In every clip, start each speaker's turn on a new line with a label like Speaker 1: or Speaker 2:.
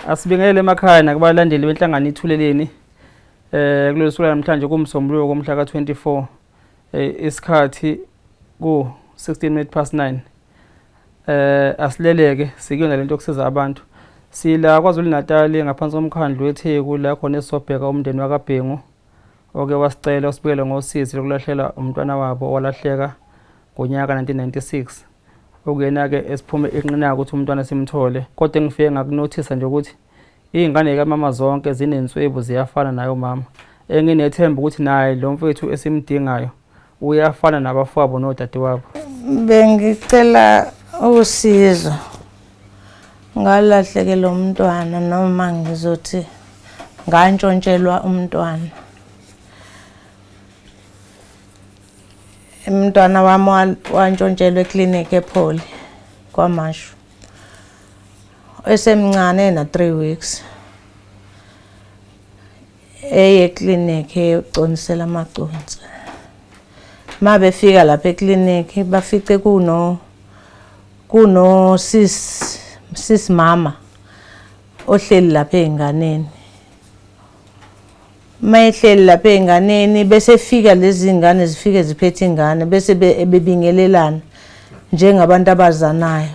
Speaker 1: Asibingelele emakhaya nakubalandeli benhlangano ithuleleni eh kulolu suku namhlanje kumsombuluko komhla ka24 eh, isikhathi ku 16 minutes past 9 eh asileleke sikuyona lento okusiza abantu sila kwaZulu Natal ngaphansi komkhandlu weTheku la khona esobheka umndeni wakaBhengu oke wasicela usibukele ngosizi lokulahlela umntwana wabo owalahleka ngonyaka 1996 okuyena-ke esiphume inqinaka ukuthi umntwana simthole kodwa engifike ngakunothisa nje ukuthi iy'ngane kamama zonke zinenswebu ziyafana nayo mama enginethemba ukuthi naye lo mfethu esimdingayo uyafana nabafowabo nodadewabo bengicela
Speaker 2: usizo ngalahlekelwa umntwana noma ngizothi ngantshontshelwa umntwana umntwana wami wantshontshelwa eklinikhi epholi kwamashu esemncane na-three weeks eye clinic eyoconisela amaconsi uma befika lapha eklinikhi bafice kuno kuno sis sis mama ohleli lapha ezinganeni mayehleli lapha ezinganeni bese fika lezi zingane zifike ziphethe ingane bese bebingelelana njengabantu abazanayo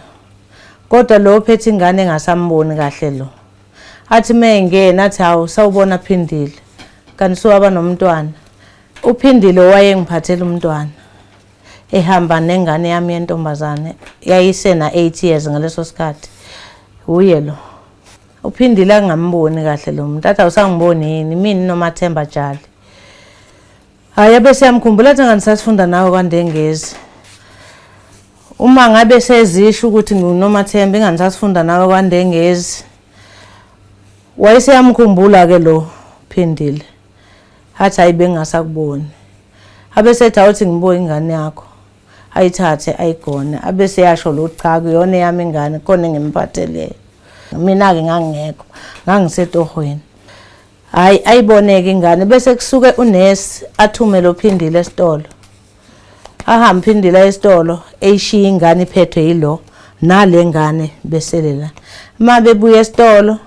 Speaker 2: kodwa lo phethe ingane engasamboni kahle lo athi mengena athi hawu sawubona phindile kanti suwaba nomntwana uphindile owayengiphathela umntwana ehamba nengane yami yentombazane yayisena 8 years ngaleso sikhathi uye lo uphindile angamboni kahle lo muntu athi awusangiboni yini mina nomathemba jali Hayi abe siyamkhumbula thina ngani sasifunda nawe kwaNdengezi. Uma ngabe sezisho ukuthi ngiwuNomathemba ingani sasifunda nawe kwaNdengezi. Wayeseyamkhumbula ke lo Phindile. Hathi hayi bengasakuboni. Abe sethi awuthi ngibuye ingane yakho. Ayithathe ayigone. Abe seyasho lo cha kuyona eyami ingane khona engimphatheleyo. Mina ke ngangingekho. Ngangisetohweni. Hayi ayiboneke ingane bese kusuke unesi athume lo phindile esitolo. Ahambe phindila esitolo eyishiya ingane iphethwe yilo nale ngane besele la. Uma bebuya esitolo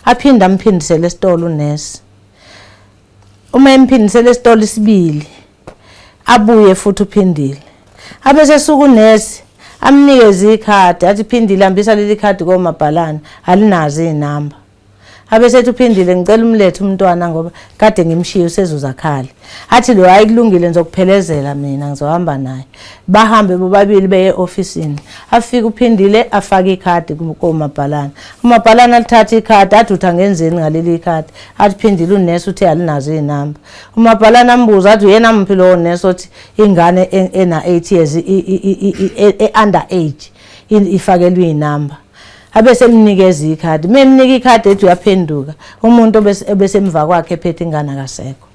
Speaker 2: aphinde amphindisele esitolo unesi. Uma emphindisele esitolo isibili abuye futhi uphindile. Abese suku unesi amnikeze ikhadi athi phindile hambisa leli khadi komabhalane alinazi izinamba. abesethi uphindile ngicela umlethe umntwana ngoba kade ngimshiye usezuzakhale athi lo hayi kulungile ngizokuphelezela mina ngizohamba naye bahambe bobabili beye ofisini afike uphindile afake ikhadi komabhalana umabhalana alithatha ikhadi adutha ngenzeni ngaleli ikhadi athi phindile unesi uthi alinazo izinamba umabhalana ambuza athi uyena mphi lowo nesi othi ingane ena 8 years e under age ifakelwe izinamba abese emnikeza ikhadi uma emnika ikhadi ethi uyaphenduka umuntu obesemva kwakhe ephethe ingane akasekho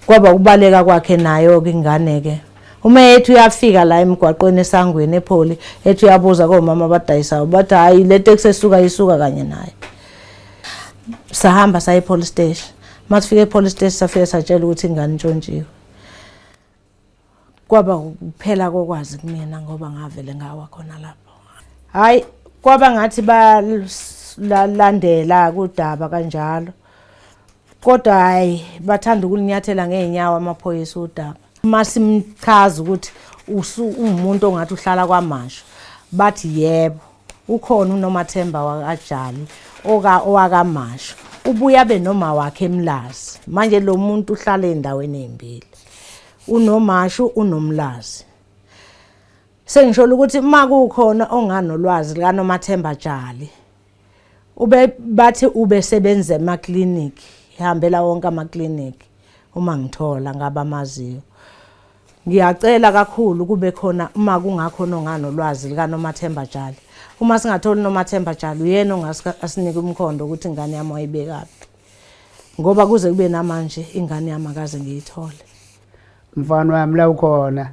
Speaker 2: kwaba ukubaleka kwakhe nayo-ke ingane-ke uma ethi uyafika la emgwaqweni esangweni epholi ethi uyabuza komama abadayisayo bathi hhayi le teksi esuka isuka kanye naye sahamba saye epolice station uma sifike epolice station safike satshela ukuthi ingane intshontshiwe kwaba ukuphela kokwazi kumina ngoba ngavele ngawa khona lapho hayi kwaba ngathi balandela kudaba kanjalo kodwa hayi bathanda ukulinyathela ngeenyawo amaphoyisa udaba uma simchaza ukuthi ungumuntu ongathi uhlala kwamasho bathi yebo ukhona unomathemba wakajali oka owakamasho ubuya benoma wakhe emlazi manje lo muntu uhlala endaweni ezimbili unomashu unomlazi sengisho ukuthi uma kukhona onganolwazi likanomathemba jali ube bathi ube sebenza ema clinic ihambela wonke ama clinic uma ngithola ngabamaziyo ngiyacela kakhulu kube khona uma kungakhona onganolwazi likanomathemba jali uma singatholi nomathemba jali uyena ongasinika umkhondo ukuthi ingane yami wayibekaphi ngoba kuze kube namanje ingane yami akaze ngiyithole mfana
Speaker 3: wami la ukhona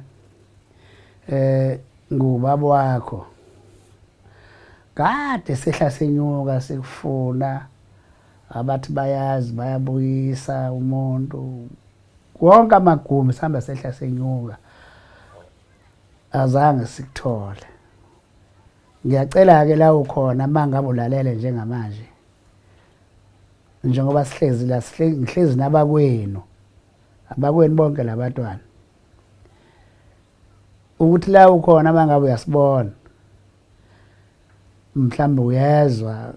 Speaker 3: eh ngubaba wakho kade sehla senyuka sikufuna abathi bayazi bayabuyisa umuntu wonke amagumbi sihamba sehla senyuka azange sikuthole ngiyacela-ke la ukhona uma ngabe ulalele njengamanje njengoba sihlezi la ngihlezi nabakwenu abakwenu bonke labatwana ukuthi la ukhona mangabe uyasibona mhlawumbe uyezwa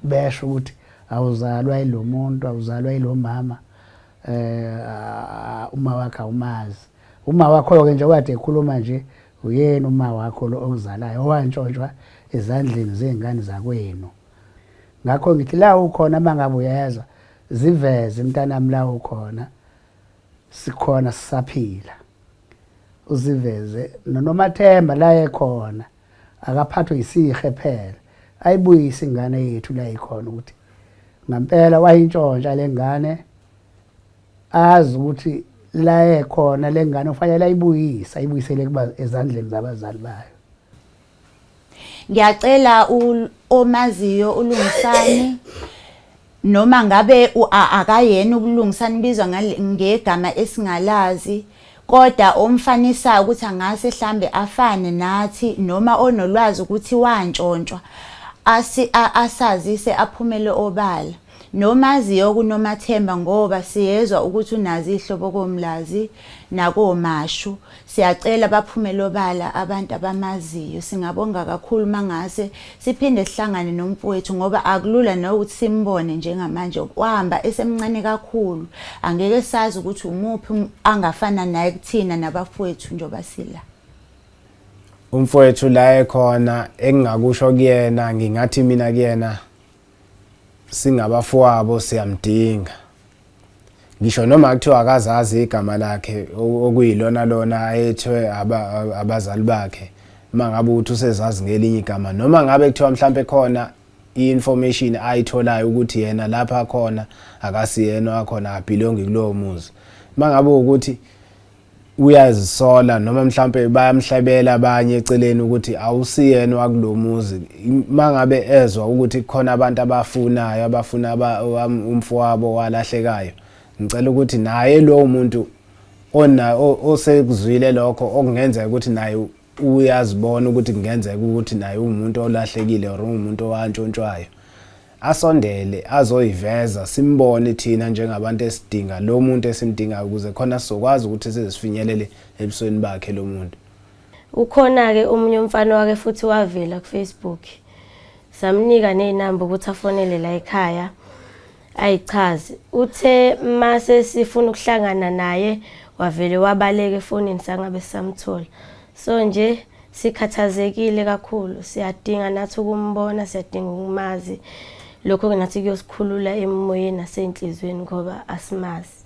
Speaker 3: besho ukuthi awuzalwa yilo muntu awuzalwa yilo mama eh uma wakhe awumazi uma wakho ke nje kade ekhuluma nje uyena uma wakho lo okuzalayo owantshontshwa ezandleni zezingane zakwenu ngakho ngithi la ukhona uma ngabe uyezwa ziveze mntanami la ukhona sikhona sisaphila uziveze nonomathemba la ekhona akaphathwe yisihe phela ayibuyise ingane yethu la ikhona ukuthi ngampela wayintshontsha lengane azi ukuthi la ekhona lengane ufanele ayibuyise ayibuyisele kuba ezandleni zabazali bayo ngiyacela
Speaker 4: omaziyo ulungisani noma ngabe akayena ukulungisani bizwa ngegama esingalazi kodwa omfanisayo ukuthi angase hlambe afane nathi noma onolwazi ukuthi wantshontshwa asazise aphumele obala Nomaziyo kuNomathemba ngoba siyezwa ukuthi unazi ihlobo koMlazi nakoMashu. Siyacela baphumele obala abantu abamaziyo. Singabonga kakhulu mangase siphinde sihlangane nomfowethu ngoba akulula nokuthi simbone njengamanje. Wahamba esemncane kakhulu. Angeke sazi ukuthi umuphi um-, angafana naye kuthina nabafowethu njengoba sila. Umfowethu
Speaker 5: la ekhona engingakusho kuyena ngingathi mina kuyena singabafowabo siyamdinga ngisho noma kuthiwa akazazi igama lakhe okuyilona lona ayethwe abazali bakhe uma ngabe uthi usezazi ngelinye igama noma ngabe kuthiwa mhlawumbe khona i-information ayitholayo ukuthi yena lapha khona akasiyena wakhona abhilongi kulowo muzi uma ngabe ukuthi uyazisola noma mhlampe bayamhlebela abanye eceleni ukuthi awusiyena wakulomuzi mangabe ezwa ukuthi khona abantu abafunayo abafuna umfowabo walahlekayo ngicela ukuthi naye lowo muntu ona osekuzwile lokho okungenzeka ukuthi naye uyazibona ukuthi kungenzeka ukuthi naye uwumuntu olahlekile or ungumuntu owantshontshwayo asondele azoyiveza simbone thina njengabantu esidinga lo muntu esimdingayo ukuze khona sizokwazi ukuthi sizifinyelele ebusweni bakhe lo muntu ukhona-ke
Speaker 6: omunye umfana wake futhi wavela kufacebook samnika neynamba ukuthi afonele la ekhaya ayichaze uthe mase sifuna ukuhlangana naye wavele wabaleka efonini sangabe sisamthola so nje sikhathazekile kakhulu siyadinga nathi ukumbona siyadinga ukumazi lokho ke nathi kuyosikhulula emoyeni nasenhlizweni ngoba asimazi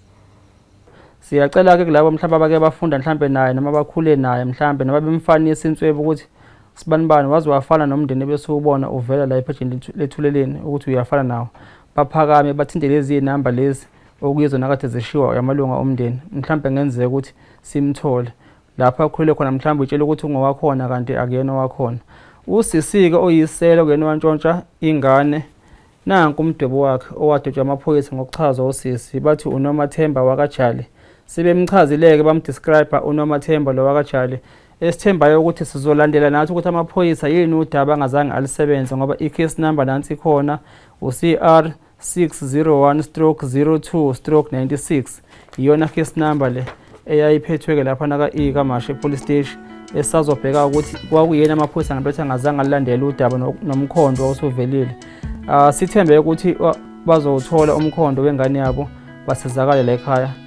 Speaker 1: siyacela ke kulabo mhlawumbe abake bafunda mhlawumbe naye noma bakhule naye mhlawumbe noma bemfanisa inswebe ukuthi sibanibani waze wafana nomndeni ebesiwubona uvela la ephejini lethuleleni ukuthi uyafana nawo baphakame bathinte lezi namba lezi okuyizona kade zishiwa amalunga omndeni mhlawumbe ngenzeka ukuthi simthole lapho akhulele khona mhlawumbe utshela ukuthi ungowakhona kanti akuyena owakhona usisi-ke oyiselo kuyena owantshontsha ingane nanku umdwebo wakhe owadotshwa amaphoyisa ngokuchazwa usisi bathi unomathemba wakajali sebemchazile-ke bamdescriba unomathemba lo wakajali esithembayo ukuthi sizolandela nathi ukuthi amaphoyisa yini udaba angazange alisebenze ngoba i-case number nansi ikhona u-cr 601 stroke 02 stroke 96 iyona case number le eyayiphethwe-ke lapha naka-e kamashe police station esazobheka ukuthi kwakuyena amaphoyisa ngabethi angazange alandele udaba nomkhondo osuvelile uh, ah, sithembe ukuthi bazowuthola umkhondo wengane yabo basizakale la ekhaya